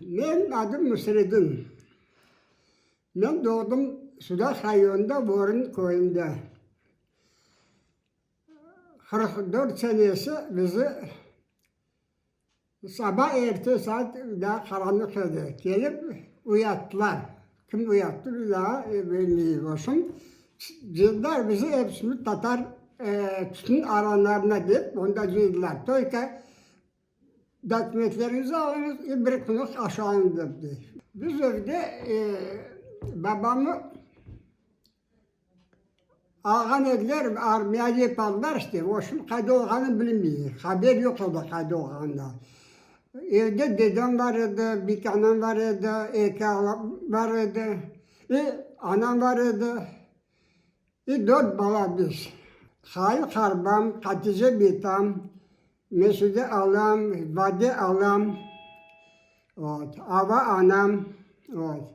Men adım Nusredin. Men doğdım Sudaq rayonında Vorin köyünde. Qırq dört senesi bizi saba erte saat daa qaranlıq edi, kelip uyattılar. Kim uyattı biz daa bilmeyik oşun. Cıydılar bizi hepsimiz tatar tütün aranlarına dep onda cıydılar. Toyka. Dokumentleriñizi alıñız ve bir qunut aşağı indir, dey. Biz evde babamnı alğan ediler, armiyada yapardılar işte, o şimdi qayda olğanını bilmeyik, haber yoq o da qayda olğanından. Evde dedem bar edi, bir iki anam bar edi, eki ağam bar edi, ve anam bar edi, ve dört bala biz. Hayır, Harbam, Hatice Bitam. Mesude alam, Bade alam, ot, Ava anam, ot.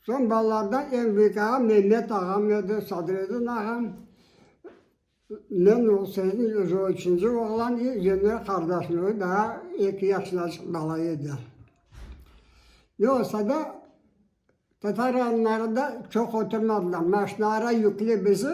Soñ balalardan eñ büyük ağam Mehmet ağam edi, Sadredin ağam. Men o sırıdın özü üçünci oğlan i Zemir qardaşım o daa eki yaşınacıq bala edi. Ne olsa da, tatar rayonlarında çoq oturmadılar, maşinalara yüklep bizi.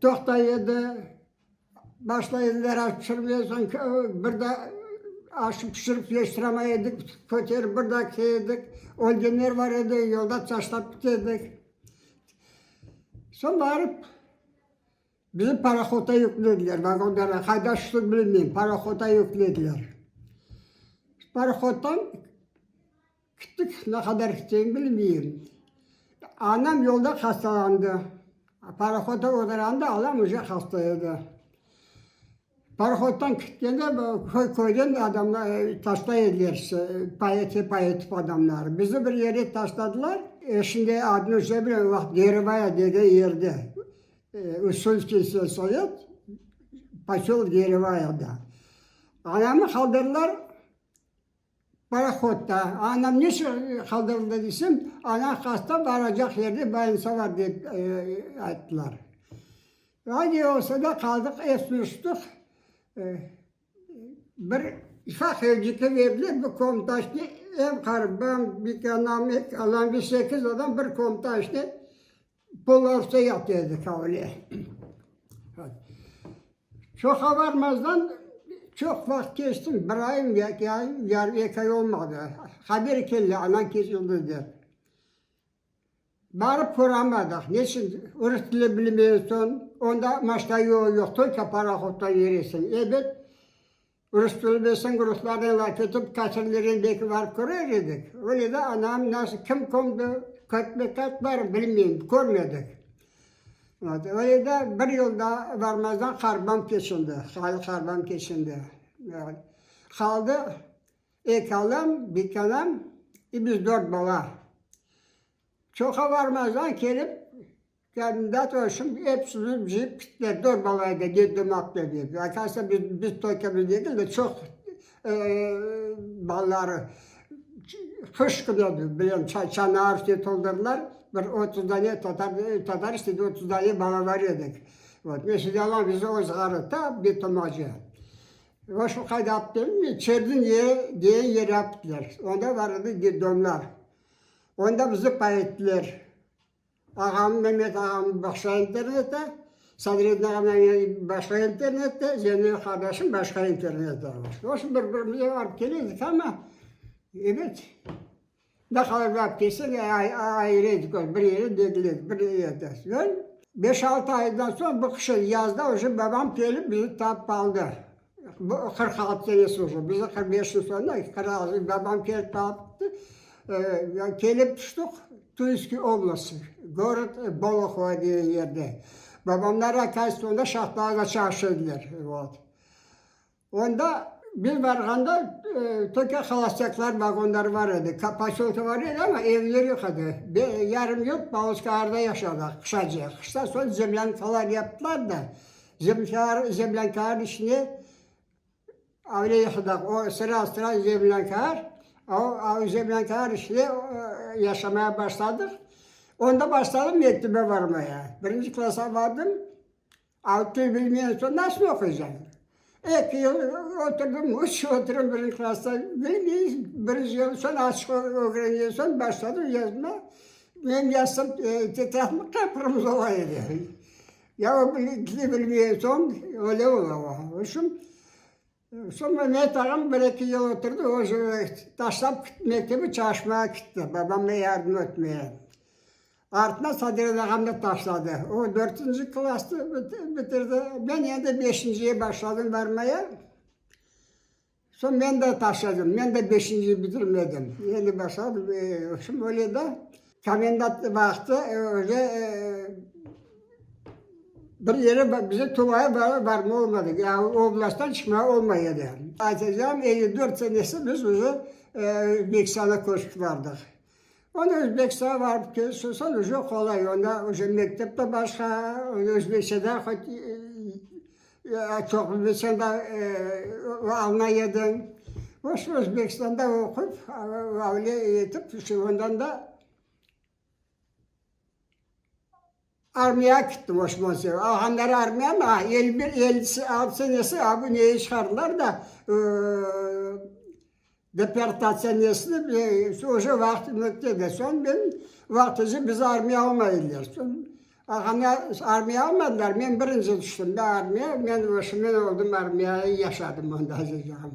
Toqta edi, başlayın veraj tüşürmeye, soñ bir da aşıp tüşürip yetiştiremay edik, köterip bir da key edik, ölgenler bar edi, yolda taşlap ketedik. Soñ barıp bizi parohodda yüklediler, vagonlarğa, qayda tüştik bilmeyim, parohodda yüklediler. Parohoddan. Küttük, ne qadar küteceğim bilmeyim. Anam yolda hastalandı. Parohodda oturanda anam uje hasta edi. Parohoddan kütkende köyden adamlar taşlay ediler, payete pay etip adamları. Bizni bir yerde taşladılar. Eşimde adını şey bilmeyim, vaqt Geribaya degen yerde, Ussulskiy sельsovet, poselok Geribaya da. Anamnı qaldırdılar, Parahodda. Anam neçün qaldırıldı deysem, ana hasta, baracaq yerine bolnitsa bar, dep ayttılar. Ay ne olsa da qaldıq, esni uçtıq. Bir ifaq evciki berdiler, bir komta içine, em qarı, ben, bir anam, eki anam ve sekiz adam bir komta içine Polovta yaptı edi Kavle. Çoqa varmazdan çoq vaqıt keçti, bir ayım yaki ayım, yarım eki ay olmadı. Haber keldi, anan kesildi dep. Barıp köramadıq, neçün rus tili bilmeysen, onda maşta yol yoq, tolko parahodda yüresiñ. Ebet Rus tili bilseñ, ruslarnen laf etip, tasirleren belki barıp körer edik. Öyle de anam nasıl, kim kömdi, körtme kayıt barmı, bilmeyim, körmedik. Ot, öyle de bir yıl da barmazdan harbam keçindi, hali harbam keçindi. Ot, qaldı eki anam, beki anam, i biz dört bala. Çoqa barmazdan kelip, Kandidat olsun, epsini cıyıp kitler, dorbalar da ne demak ne dedi. Akasına biz, biz toykamız degil de, çoq balları qış künü bilen çanağı üstüne toldurdılar. Bir otuz dane tatar, tatar istedi, otuz dane balaları edik. Vot, men şimdi alam bizi o zğarı ta bir tomaca. Vot, şu qayda apıp berdim, Çerniñ degen yere aptılar. Onda bar edi detdomlar. Onda bizi payettiler. Ağam Memet ağam başqa internette, Sadredin ağam başqa internette, Zenel qardaşım başqa internette. Oşun bir-birimizge barıp keledik ama, ebet, ne qadar barıp kelsek, ayrı edik, bir yerde dediler, bir yerde. Soñ beş-altı aydan soñ, bu qışı, yazda uje babam kelip bizi tapıp aldı. Bu qırq altı senesi oca, bize qırq beş yıl soñra qırq babam kelip qalıptı. Kelip tüştük Tüyskü oblasti, gorod Bolohovo degen yerde. Babamlar akayısı onda şahtalañda çalışa ediler. Onda biz barğanda töke holostaklar vagonları bar edi. Poselka bar edi, amma evler yoq edi. Yarım yurt Pavlovskıy ağarda yaşadıq qışacık. Qıştan soñ zemlânkalar yaptılar da. Zemlânkanıñ içine öyle yaşadıq, o sıra sıra zemlânka, o zemlânkanıñ içine yaşamaya başladıq. Onda başladım mektebe barmaya. Birinci klassa bardım, tül bilmeyen soñ nasıl oquycan? Eki yıl oturdım, üç yıl oturdım birinci klassa, bilmeyiz, birinci yıl soñ açıq ögrengen soñ başladım yazma. Menim yazsam, tetratım qıpqırmızı ola edi. Ya o bizni bilmegen soñ öyle ola o. O şun, soñ Mehmet ağam bir eki yıl oturdı, özü taşlap kitti, mektebi çalışmağa kitti, babamğa yardım etmeye. Artına Saderen ağam da taşladı. O dörtünci klasnı bitirdi, men endi beşinciye başladım barmaya. Soñ men de taşladım. Men de beşinci bitirmedim. Endi başladım. Şimdi böyle de komendant vaqtı öyle bir yere bize Tuvaya barma olmadı. Oblasttan çıqma olmay edi. Aytacağım, elli dört senesi biz uzun Meksana köçip bardıq. Onı Özbekistanğa barıp kelsin, soñ uje qolay, onda uje mektep de başqa, onda özbekçe daa hoç çoq bilseñ de alına ediñ. Boş Özbekistanda oqup, avliya etip, ondan da. Armiya kitti Oşman Seyf. Alğanları armiyanı, a el bir, el alp senesi, a bu neye çıqardılar da, deportatsiya nesini bile, oje vaqtı möttedi. Soñ men vaqtıca bizi armiya almay ediler. Soñ alğanda armiya almadılar, men birinci tüştim da armiya, men oşımen oldum armiya, yaşadım onda, azizcanım.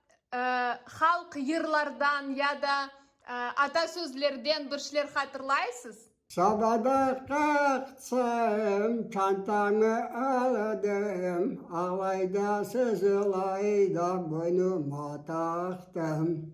Halq yırlardan ya da atasözlerden bir şeyler hatırlaysız? Sobada qaqsam, çantamı aldım, alayda siz, alayda boynuma taqtım.